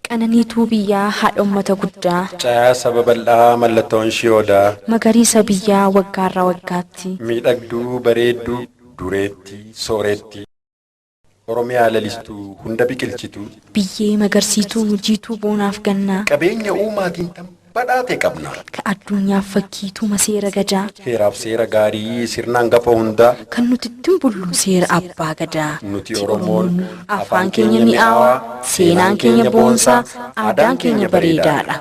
Qananiituu biyyaa haadha ummata guddaa. Caayaa saba bal'aa mallattoon ishii odaa. Magariisa biyyaa waggaarra waggaatti. Miidhagduu bareedduu dureettii soorettii. Oromiyaa lalistuu hunda biqilchituu. Biyyee magarsiituu jiituu boonaaf gannaa. Qabeenya uumaatiin tan badhaate qabna. Ka addunyaaf fakkii tuma seera Gadaa. Heeraaf seera gaarii sirna angafa hundaa. Kan nuti ittin bullu seera Abbaa Gadaa. Nuti Oromoon afaan keenya mi'aawaa, seenaan keenya boonsaa, aadaan keenya bareedaadha.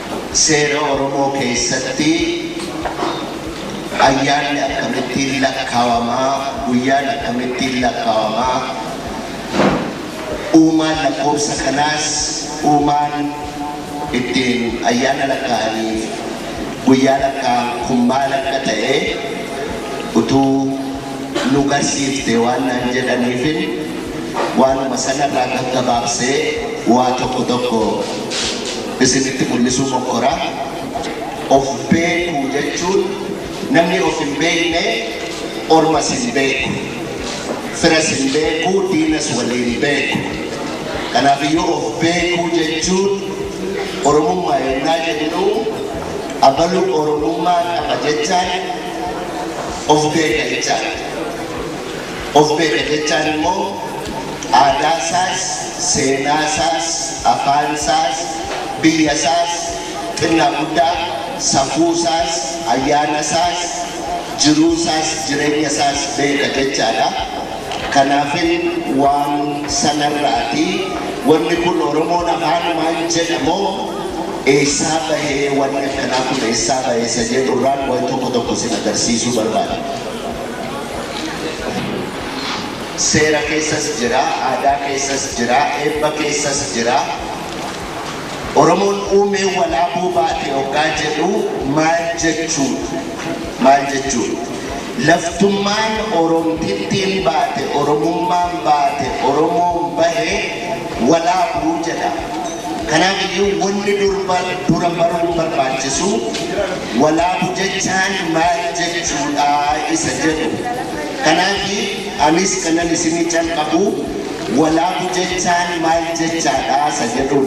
Seera Oromoo keessatti ayyaanni akkamittiin lakkaawama, guyyaan akkamittiin lakkaawama, uumaan lakkoofsa kanaas uumaan ittiin ayyaana lakkaa'aniif guyyaa lakkaa'an kun maal akka ta'e utuu nu garsiiftee waan naan jedhaniifin waanuma sanarraa gaggabaabsee waa tokko tokko isinitti mul'isuu mokkora. Of beekuu jechuun namni of hin beekne ormas hin beeku. Firas hin beeku, diinas waliin hin beeku. Kanaaf iyyuu of beekuu jechuun Oromummaa yennaa jennu abalu Oromummaa qaba jechaan of beeka jechaadha. Of beeka jechaan immoo aadaa isaas, seenaa isaas, afaan isaas, biyya isaas, xinnaa guddaa, safuu isaas, ayyaana isaas, jiruu isaas, jireenya isaas beeka jechaa dha. Kanaafin waan sana irraati wanni kun Oromoon afaanumaan jedha moo eessaa bahee wanni akkanaa kun eessaa bahe isa jedhu irraan waan tokko tokko isin agarsiisuu barbaada. Seera keessas jira, aadaa keessas jira, eebba keessas jira. Oromoon uumee walaabuu baate oggaa jedhu maal jechuu dha? Maal jechuu dha? Laftummaan Oromtittiin baate, Oromummaan baate, Oromoon bahe walaabuu jedha. Kanaaf iyyuu wanni durba dura baruun barbaachisu. Walaabu jechaan maal jechuudha isa jedhu. Kanaafi anis kanan isini calqabu walaabu jechaan maal jechaadha isa jedhun.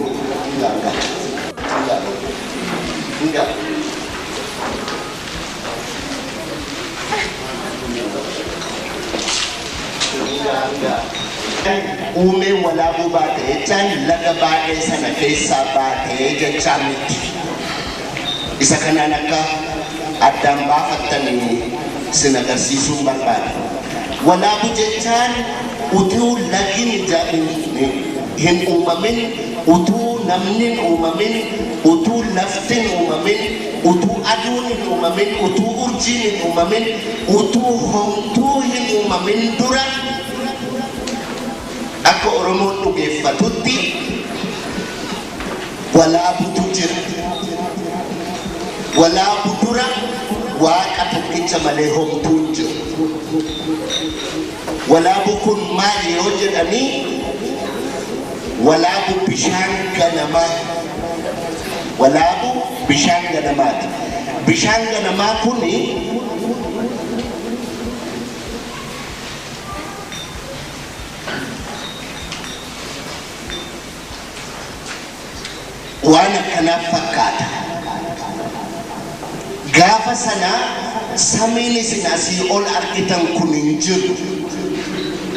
Uumeen walaabuu baate jechaan laga baadhee sana keessaa baate jechaa mitti. Isa kanaan akka addaan baafattan sin agarsiisuun barbaada. Walaabu jechaan utuu lagin hin uumamin, utuu namnin uumamin, utuu laftin uumamin, utuu aduun hin uumamin, utuu urjiin hin uumamin, utuu homtuu hin uumamin dura akka Oromoon dhugeeffatutti walaabutu jira. Walaabu dura Waaqa tokkicha malee homtuu hin jiru. Walaabu kun maali yoo jedhanii walaabu bishaan ganamaa. Walaabu bishaan ganamaati. Bishaan ganamaa kun waan akkanaa fakkaata. Gaafa sana samiin isin asii ol argitan kun hin jiru.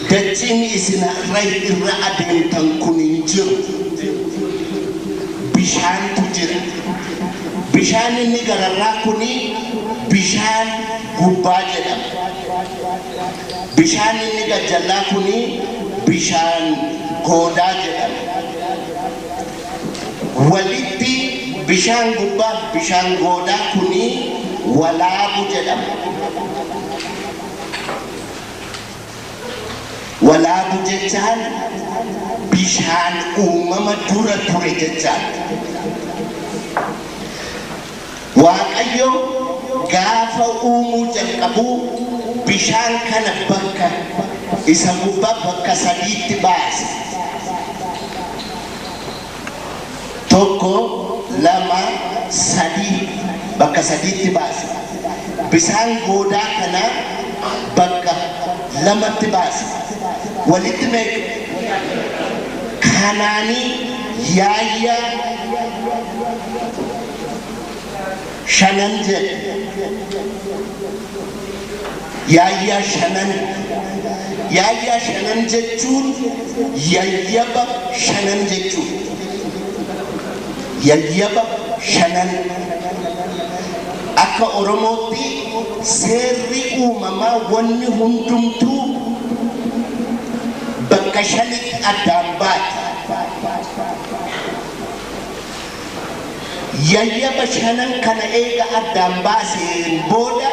Dachiin isin har'a irra adeemtan kun hin jiru. Bishaantu jira. Bishaan inni gararraa kun bishaan gubbaa jedhama. Bishaan inni gajjallaa kun bishaan goodaa jedhama. Walitti bishaan gubbaaf bishaan goodaa kun walaabu jedhama. Walaabu jechaan bishaan uumama dura ture jechaadha. Waaqayyo gaafa uumuu jalqabu bishaan kana bakka isa gubbaa bakka sadiitti baase. Tokko, lama, sadii bakka sadiitti baase. Bisaan goodaa kana bakka lamatti baase. Walitti meeqa? Kanaanii yaayyaa. shanan jedhe yaayyaa shanan yaayyaa shanan jechuun yayyaba shanan jechuun yayyaba shanan akka oromootti seerri uumamaa wanni hundumtuu bakka shanitti addaan baate Yayyaba shanan kana eega addaan baaseen booda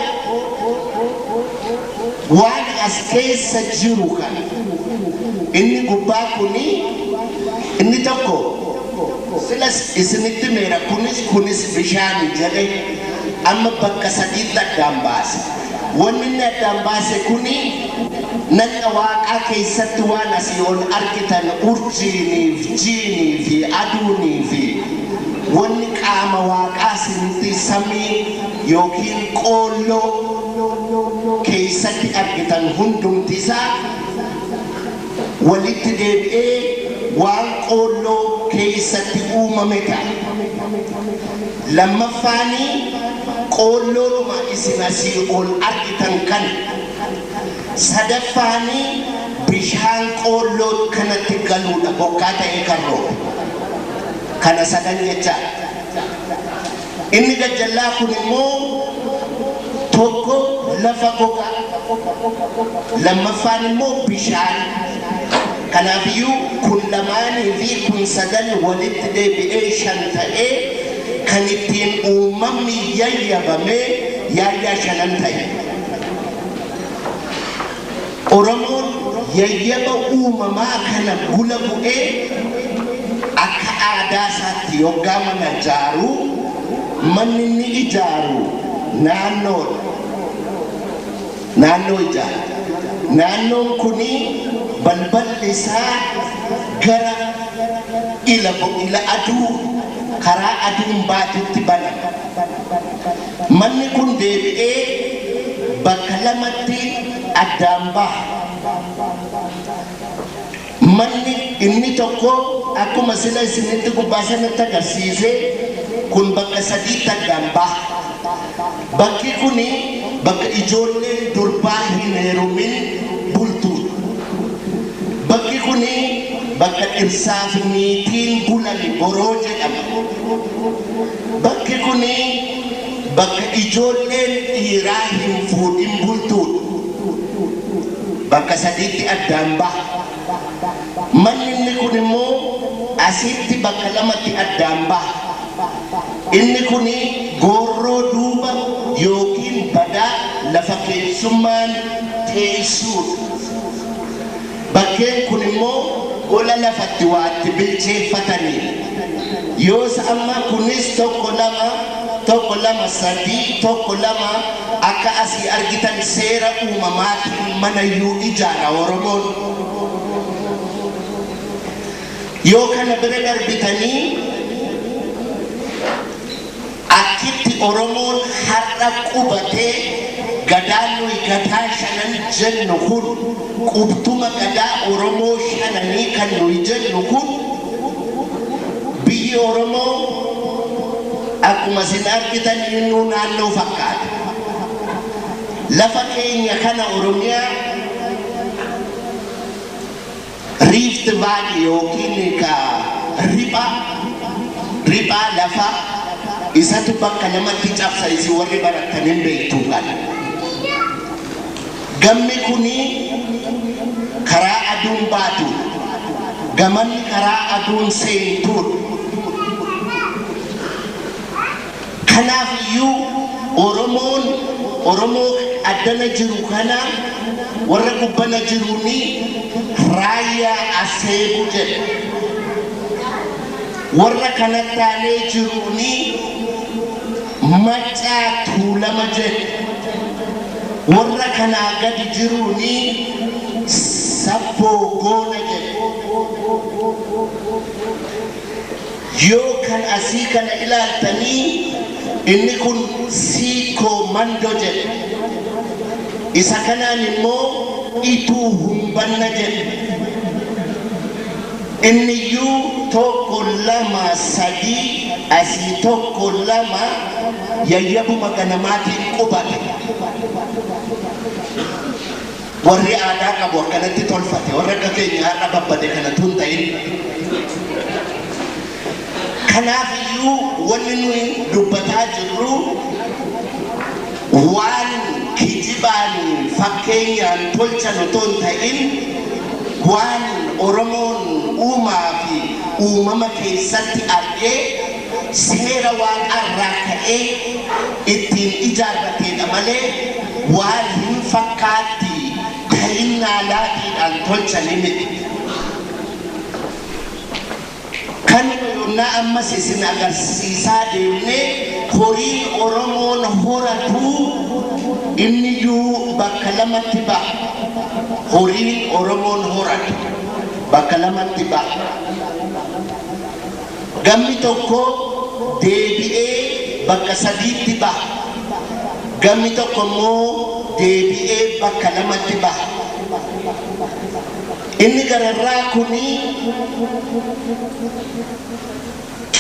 waan as keessa jiru kana inni gubbaa kuni inni tokko silas isinitti himeera kunis kunis bishaani jedhe amma bakka sadiitti addaan baase. Wanni inni addaan baase kuni nagna Waaqaa keessatti waan asii ol argitan urjiinii fi jiinii fi aduunii fi wanni qaama Waaqaa isinitti samii yookiin qoolloo keessatti argitan hundumti isaa walitti deebi'ee waan qoolloo keessatti uumame ta'a. Lammaffaanii qoolloodhuma isin asii ol argitan kana. Sadaffaanii bishaan qoolloo kanatti galuudha bokkaa ta'ee kan roobe. Kana sadan jechaa. Inni gajjallaa kun immoo tokko lafa gogaa, lammaffaan immoo bishaan. Kanaaf iyyuu kun lamaanii fi kun sadan walitti deebi'ee shan ta'ee kan ittiin uumamni yayyabame yaayyaa shanan ta'e. Oromoon yayyaba uumamaa kana gula bu'ee akka aadaa isaatti yoggaa mana ijaaru manni inni ijaaru naannoodha. Naannoo ijaara. Naannoon kun balballi isaa gara ila ila aduu karaa aduun baatutti banama. Manni kun deebi'ee bakka lamatti addaan baha. Manni inni tokko akkuma sila isinitti gubbaa sanatti agarsiise kun bakka sadiitti addaan baha. Bakki kun bakka ijoolleen durbaa hin heerumin bultuudha. Bakki kun bakka dhirsaafi niitiin bulani boroo jedhama. Bakki kun bakka ijoolleen dhiiraa hin fuudhin bultuudha. Bakka sadiitti addaan baha. Manni inni kun immoo asiitti bakka lamatti addaan baha. Inni kun goorroo duuba ykn badaa lafa keessummaan teessuudha. Bakkeen kun immoo gola lafa itti waa itti bilcheeffatani. Yoos amma kunis tokko lama, tokko lama sadii, tokko lama akka asii argitan seera uumamaatiin mana iyyuu ijaara Oromoon. Yoo kana bira darbitanii Akkitti Oromoon har'a qubatee Gadaan nuyi Gadaa Shanan jennu kun qubtuma Gadaa Oromoo Shananii kan nuyi jennu kun biyyi Oromoo akkuma isin argitan innuu naannoo fakkaata. Lafa keenya kana Oromiyaa. Riift Vaalii ykn ka ripha riphaa lafa isatu bakka lamatti cabsa isin warri barattan hin beektuu kana. Gammi kuni karaa aduun baatuudha. Gamani karaa aduun seentuudha. Kanaaf iyyuu Oromoon Oromoo addana jiru kana warra gubbana jiruun Raayyaa Asseebuu jedha. Warra kanatti aanee jiruun Maccaa Tuulama jedha. Warra kanaa gadi jiruun Sabboo Goona jedha. Yoo kan asii kana ilaaltanii inni kun Siikko Mando jedhe. Isa kanaan immoo Ituu Humbanna jedhe. Inniyyuu tokko lama sadii asii tokko lama yayyabuma ganamaatiin qubate. Warri aadaa qabu akkanatti tolfate warra akka keenya har'a babbade kana tun ta'in. Kanaaf iyyuu wanni nuyi dubbataa jirru waan kijibaan fakkeenyaan tolchan otoo hin ta'in waan Oromoon uumaa fi uumama keessatti argee seera waaqaa irraa ka'ee ittiin ijaarrateedha malee waan hin fakkaatti ta'innaa laatiidhaan tolchanii miti. Kanuma yonnaa ammas isin agarsiisaa deemnee horiin Oromoon horatu inniyyuu bakka lamatti ba'a. Horiin Oromoon horatu bakka lamatti ba'a. Gamni tokko deebi'ee bakka sadiitti baha, gamni tokko immoo deebi'ee bakka lamatti baha. Inni gararraa kun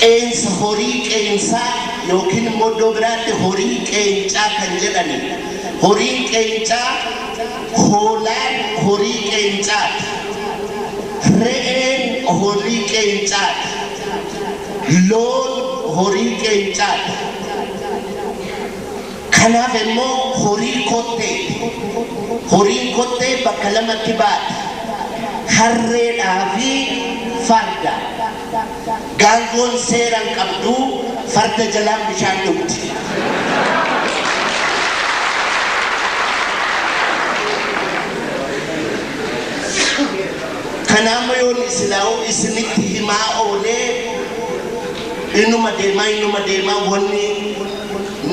qeensa horii qeensaa yookiin immoo iddoo biraatti horii qeencaa kan jedhani. Horiin qeencaa Hoolaan horii qeencaati. Re'een horii qeencaati. Loon horii qeencaati. Kanaaf immoo horii kotteeti. Horiin kottee bakka lamatti baati. Harreedhaa fi farda. Gaangoon seera hin qabdu, farda jalaan bishaan dhugdi. Kanaa immoo yoon isilaawu isinitti himaa oolee inuma deemaa inuma deemaa wanni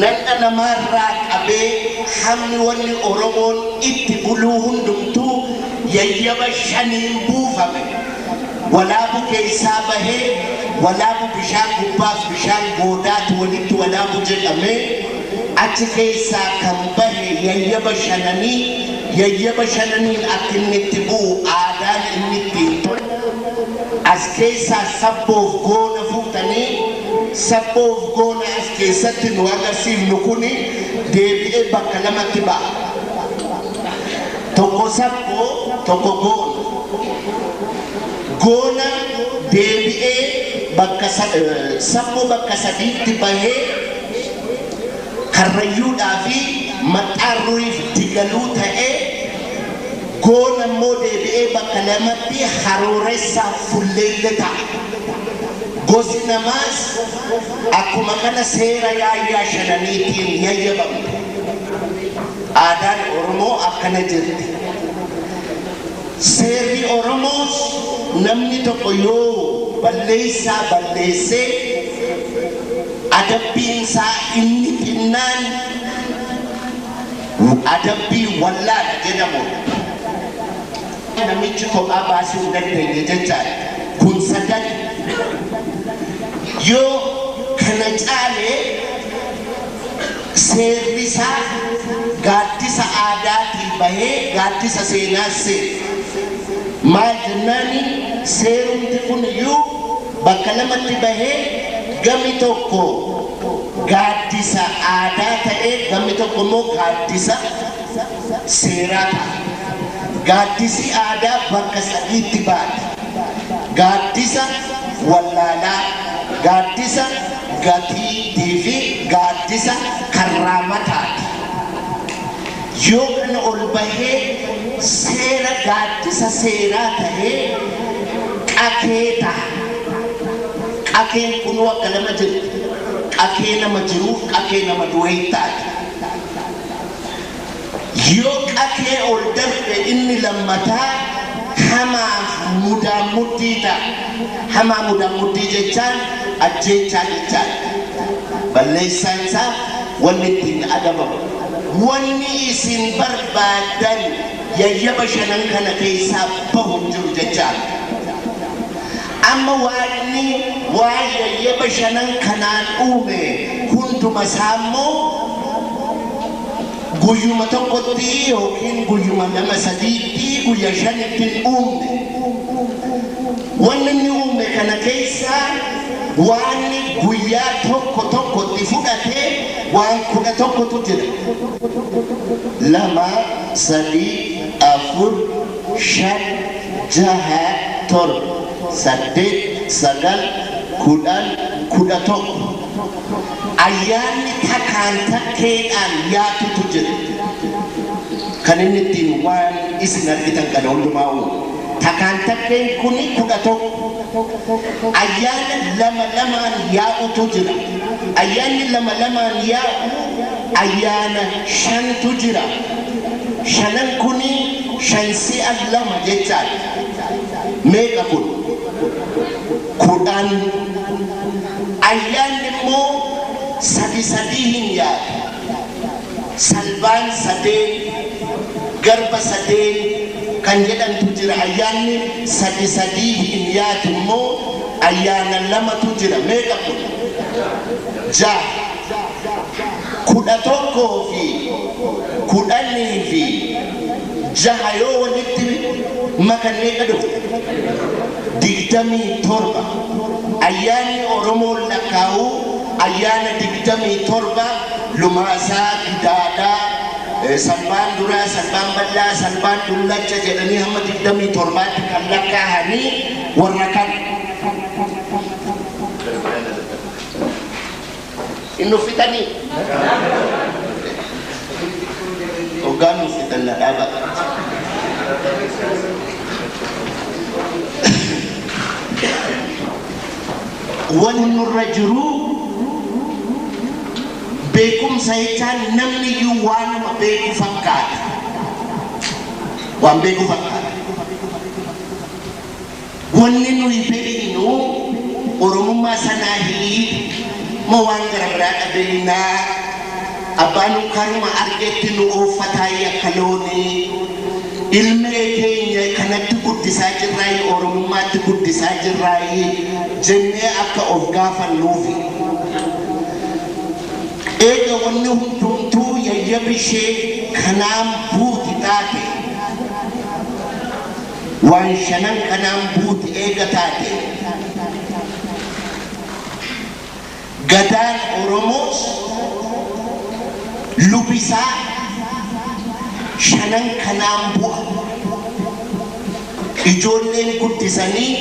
nadha namaarraa qabee hammi wanni Oromoon itti buluu hundumtuu yayyaba shaniin buufame. walaabu keessaa bahee walaabu bishaan gubbaaf bishaan goodaatu walitti walaabu jedhamee achi keessaa kan bahe yayyaba shananii yayyaba shananiin akka inni itti bu'u aadaan inni ittiin tolu as keessaa sabboof goona fuutanii sabboof goona as keessatti nu agarsiifnu kun deebi'ee bakka lamatti ba'a. Tokko sakkoo tokko goona. Goona deebi'ee bakka sa- eh, sakkoo bakka sadiitti bahee karrayyuudhaa fi maxxaarruuf digaluu ta'ee goona immoo deebi'ee bakka lamatti harooressaa fulleelle ta'a. Gosi namaas akkuma kana seera yaayyaa shananiitiin yayyabamte. Aadaan Oromoo akkana jetti. Seerri Oromoos namni tokko yoo balleessaa balleesse adabbiin isaa inni xinnaan adabbii wallaala jedhamudha. Namichi kophaa baasuu hin dandeenye jechaadha. Kun sadan yoo kana caalee Seerrisaa gaaddisa aadaatii bahee gaaddisa seenaas seene. Maal jennaani seerumti kuniyyuu bakka lamatti bahee gami tokko gaaddisa aadaa ta'ee gammi tokko immoo gaaddisa seeraa ta'a. Gaaddisi aadaa bakka sadiitti baati. Gaaddisa wallaalaa, gaaddisa Gatiittii fi gaaddisa karraa mataati. Yoo kana ol bahee seera gaaddisa seeraa tahee qakee taha. Qakeen kunuu akka nama jirti. Qakee nama jiruuf qakee nama du'eettaati. Yoo qatee ol darbe inni lammataa hamaaf mudaan mudhii ta'a. Hamaa mudaan mudhii jechaan ajjeechaa jechaadha. Balleessaan isaa wanni ittiin adabamu. Wanni isin barbaaddan yayyaba shanan kana keessaa bahu hin jiru jechaan. Amma Waaqni waan yayyaba shanan kanaan uume hunduma isaa immoo Guyyuma tokkotti yookiin guyyuma lama sadiitti guyya shanitti hin uumne. Wanni inni uume kana keessa waan guyyaa tokko tokkotti fudhate waan kudha tokkotu jira. Lama, sadii, afur, shan, jaha, torba, saddeet, sagal, kudhan, kudha tokko. Ayyaanni takaan takkeedhaan yaatutu jira. Kan inni ittiin waan isin argitan kana hundumaa uume. Takaan takkeen kun 11. Ayyaana lama lamaan yaa'utu jira. Ayyaanni lama lamaan yaa'u ayyaana shantu jira. Shanan kun shan si'a lama jechaadha. Meeqa kun? kudhan, Ayyaanni immoo sadi sadii hin yaadu. Salbaan sadeen, garba sadeen kan jedhantu jira. Ayyaanni sadi sadii hin yaadu immoo ayyaana lamatu jira. Meeqa kun? Jaha. Kudha tokkoo fi kudhanii fi jaha yoo walitti makan meeqa dhufa? 27 Ayyaanni Oromoon lakkaa'u ayyaana 27 Lumaasaa, Gidaadaa, Salbaan Duraa, Salbaan Bal'aa, Salbaan Dullacha jedhanii hamma 27tti kan lakkaa'ani warra kana. Hin nuffitanii? Hoggaa nuffitan na dhaaba. Wani nurra jiruu beekumsa jechaan namni iyyuu waanuma beeku fakkaata. Waan beeku fakkaata. Wanni nuyi beeynu Oromummaa Sanaahilii moo waan gara biraa dha beeynaa? Abbaa nu karuma argetti nu ooffataayii akka loonii. Ilmee teenya kanatti guddisaa jirraayii Oromummaatti guddisaa jirraayii? jennee akka of gaafannuufi. Eega wanni hundumtuu yayyabi ishee kanaan buuti taate. Waan shanan kanaan buuti eega taate Gadaan Oromoos lubi isaa shanan kanaan bu'a. Ijoolleen guddisanii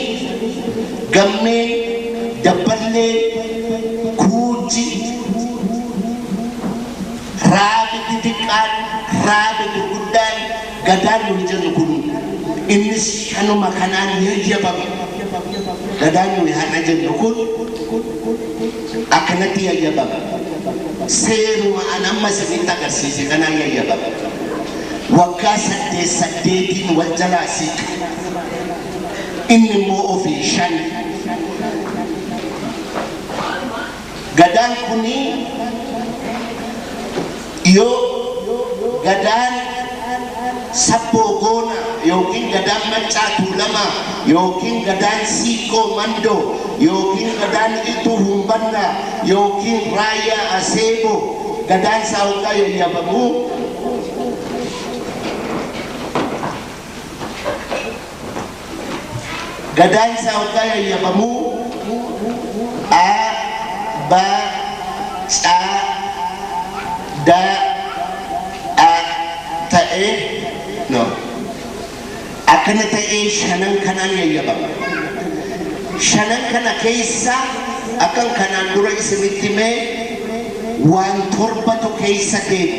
Gammee, Dabballee, Kuujji, Raabi xixiqqaan, Raabi gurguddaan, Gadaan nuyi jennu kun innis shanuma kanaan yayyabame. Gadaan nuyi har'a jennu kun akkanatti yayyabame. Seeruma an amma isinitti agarsiise kanaan yayyabame. Waggaa saddeet saddeetiin wal jalaa siiqa. Inni immoo ofii shan. Gadaan kun yoo Gadaan Sabboo Goonaa ykn Gadaan Maccaa Tuulamaa ykn Gadaan Siiqqoo Mandoo ykn Gadaan Iltuu Humbannaa ykn Raayyaa Aseeboo Gadaan isaa hoggaa yayyabamu, Gadaa isaa oggaa yayyabamuu A, B, C, D, A ta'ee no. Akkana ta'ee shanan kanaan yayyabama. Shanan kana keessa akkan kanaan dura isinitti mee waan torbatu keessa deemu.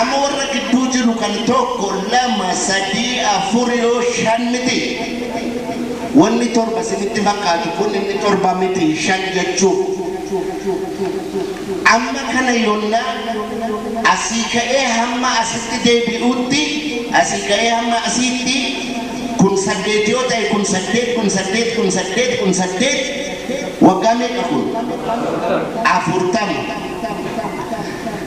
Amma warra gidduu jiru kan tokko lama sadii afur yoo shan miti wanni torba sinitti fakkaatu kun inni torba miti shan jechuu amma kana yonna asii ka'ee hamma asitti deebi'uutti asii ka'ee hamma asiitti kun saddeet yoo ta'e kun saddeet kun saddeet kun saddeet kun saddeet waggaa meeqa kun afurtama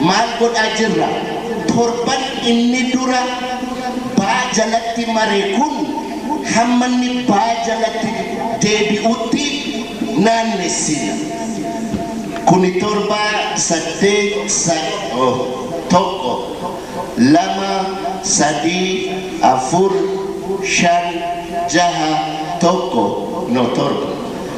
Maal godhaa jirra? Torban inni dura baa jalatti mare kun hamma inni baa jalatti deebi'utti naannessina. Kuni torba saddeet sa oh, tokko, lama, sadii, afur, shan, jaha, tokko, no torba.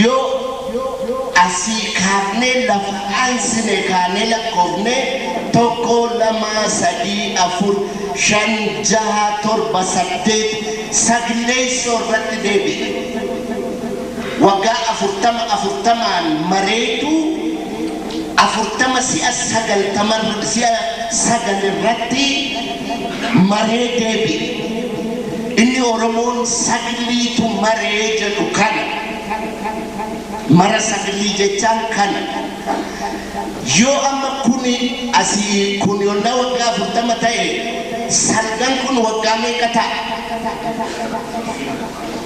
Yoo asii kaafnee lafa aansine kaanee lakkoofne, tokko, lama, sadii, afur, shan, jaha, torba, saddeet, saglleessoo irratti deebi'e. Waggaa afurtama afurtamaan mareetu. 40 si'a 90 si'a 9 irratti maree deebi'e. Inni Oromoon sagliitu maree jedhu kana. Mara saglii jechaan kana. Yoo amma kuni asii kun yonnaa waggaa 40 ta'e salgan kun waggaa meeqa ta'a?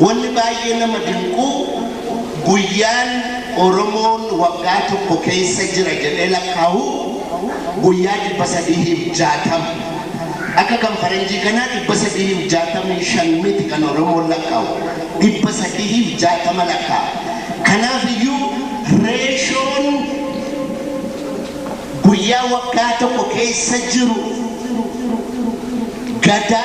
Wanni baay'ee nama dinqu guyyaan Oromoon waggaa tokko keessa jira jedhee lakkaawu guyyaa 360. Akka kan faranjii kanaa 365 miti kan Oromoon lakkaawu. 360 lakkaa'a. Kanaaf iyyuu reeshoon guyyaa waggaa tokko keessa jiru Gadaa,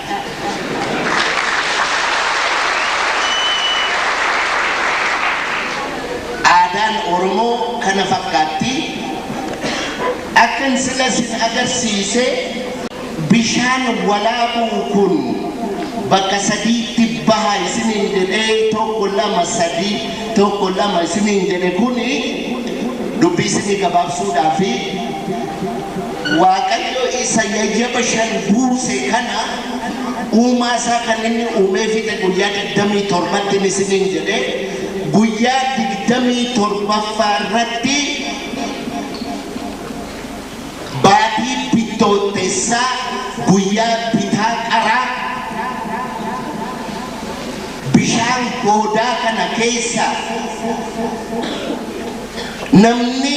Aadaan Oromoo kana fakkaatti. Akkan sila sin agarsiise bishaan walaabuu kun bakka sadiitti baha isiniin jedhee tokko lama sadii tokko lama isiniin jedhe kuni dubbii isinii gabaabsuudhaafi. Waaqayyo isa yayyaba shan buuse kana uumaa isaa kan inni uumee fixe guyyaa 27tti ni isiniin jedhe guyyaa 27ffaa irratti baatii bittootteessaa guyyaa bitaa qaraa bishaan goodaa kana keessa Namni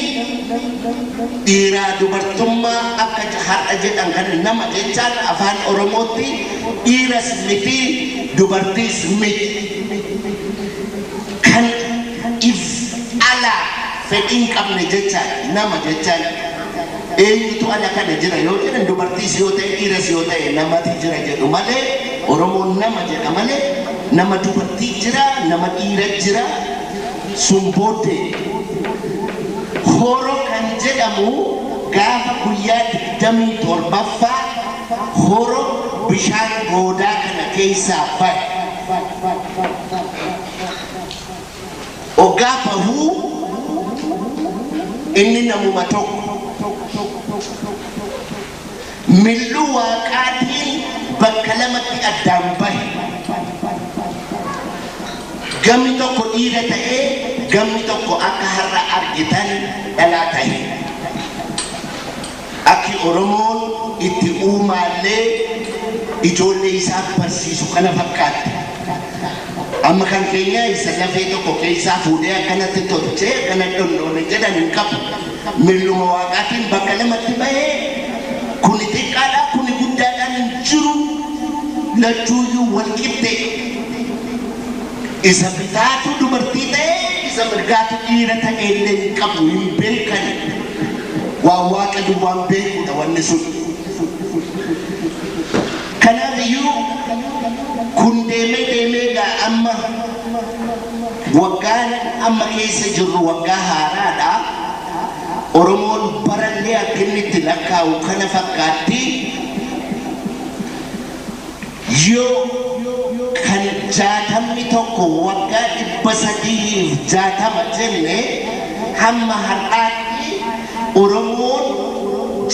dhiiraa dubartummaa akka je- har'a jedhan kana nama jechaan afaan Oromootti dhiiras miti dubartiis miti. Kan if ala fedhii hin qabne jechaan nama jechaan eenyutu ala kana jira yoo jedhan dubartiis yoo ta'e dhiiras yoo ta'e namati jira jedhu malee Oromoon nama jedha malee nama dubartii jira nama dhiira jira Sun booddee Horo kan jedhamu gaafa guyyaa 27ffaa Horo bishaan goodaa kana keessaa bahe. Oggaa bahu inni namuma tokko. Milluu Waaqaatiin bakka lamatti addaan bahe. Gamni tokko dhiira ta'ee gamni tokko akka har'a argitan dhalaa tahe. Akki Oromoon itti uumaallee ijoollee isaa barsiisu kana fakkaatti. Amma kan keenya isa lafee tokko keessaa fuudhee akkanatti tolchee akkana dhonnoone jedhan hin qabu. Milluma Waaqaatiin bakka lamatti bahe, kuni xiqqaadha, kuni guddaadhaan hin jiru, lachuu iyyuu wal qixxee dha. Isa bitaatu dubartii ta'e, isa mirgaatu dhiira ta'e illee hin qabu, hin beekan. Waan Waaqa duwwaan beeku dha wanni sun. Kanaaf iyyuu kun deemee deemee egaa amma. Waggaan amma keessa jirru waggaa haaraadha. Oromoon barallee akka inni itti lakkaa'u kana fakkaatti. Yoo kan 61 waggaa 360 jenne hamma har'aatti. Oromoon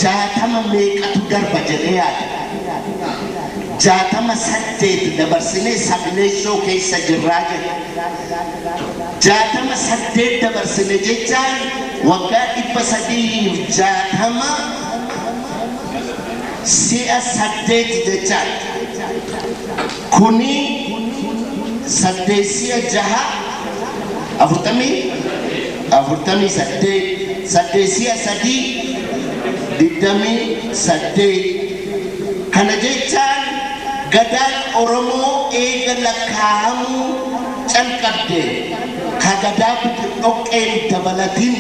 jaatama meeqatu darba jedhee yaada? Jaatama saddeet dabarsinee sagleessoo keessa jirraa jedha. Jaatama saddeet dabarsine jechaan waggaa 360 si'a saddeet jechaadha. Kuni saddeet si'a jaha afurtamii afurtamii saddeet saddeet si'a sadii digdamii saddeet kana jechaan gadaan oromoo eega lakkaa'amuu calqabde ka gadaa bidir dhoqqeen dabalatin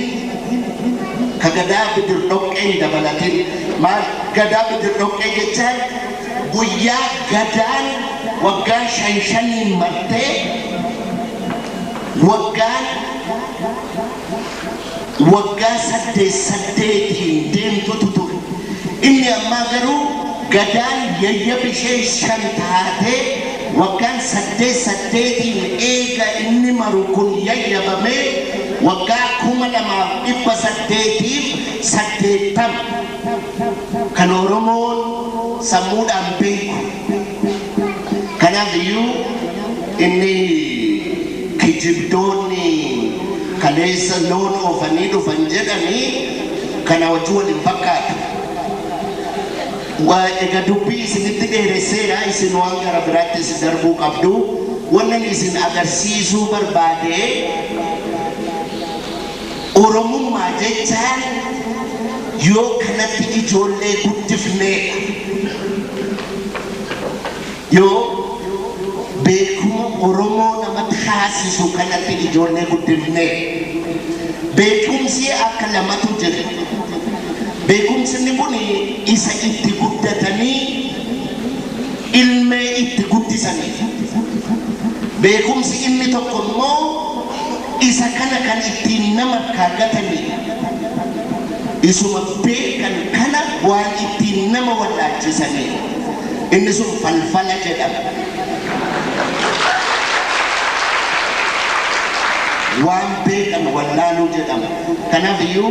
ka gadaa bidir dhoqqeen dabalatin maal gadaa bidir dhoqqee jechaan guyyaa gadaan waggaa shan shaniin martee waggaan waggaa saddeet saddeetiin deemtutu ture. Inni ammaa garuu gadaan yayya bishee shan taatee waggaan saddeet saddeetiin eega inni maru kun yayyabamee waggaa kuma lamaaf dhibba saddeetiif saddeettama kan Oromoon sammuudhaan beeku. Kanaaf iyyuu inni kijibdoonni kaleessa loon oofanii dhufan jedhanii kana wajjin wal hin fakkaatu. Waa egaa dubbii isinitti dheeresseera isin waan gara biraattis darbuu qabdu. Wannan isin agarsiisuu barbaade Oromummaa jechaan yoo kanatti ijoollee guddifneedha. Yoo beekuma Oromoo nama taasisu kanatti ijoollee guddifnee beekumsi akka lamatu jira. Beekumsinni kun isa itti guddatanii ilmee itti guddisaniidha. Beekumsi inni tokko immoo isa kana kan ittiin nama irkaa gataniidha. Isuma beekan kana waan ittiin nama wallaalchisaniidha. Inni sun falfala jedhama. Waan beekan wallaaluu jedhama. Kanaaf iyyuu.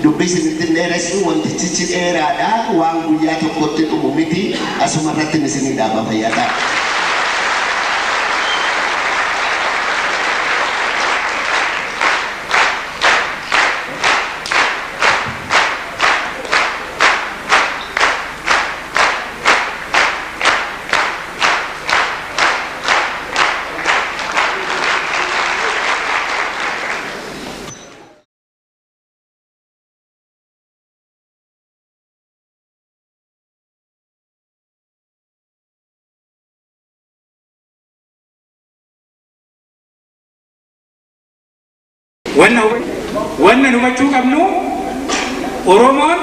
Dubbii isinitti hin dheeressu, wantichichi dheeraadha, waan guyyaa tokkotti dhumu miti, asuma irrattin isinii dhaaba. Fayyaa ta'a. Wanna hubatu wanna hubachuu qabnu Oromoon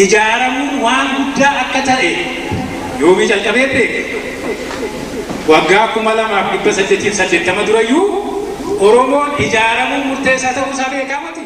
ijaaramuun waan guddaa akka ta'e yoomii jalqabee beeke waggaa kuma lamaaf dhibba saddeetiif saddeettama durayyuu Oromoon ijaaramuun murteessaa ta'uu isaa beekaa miti?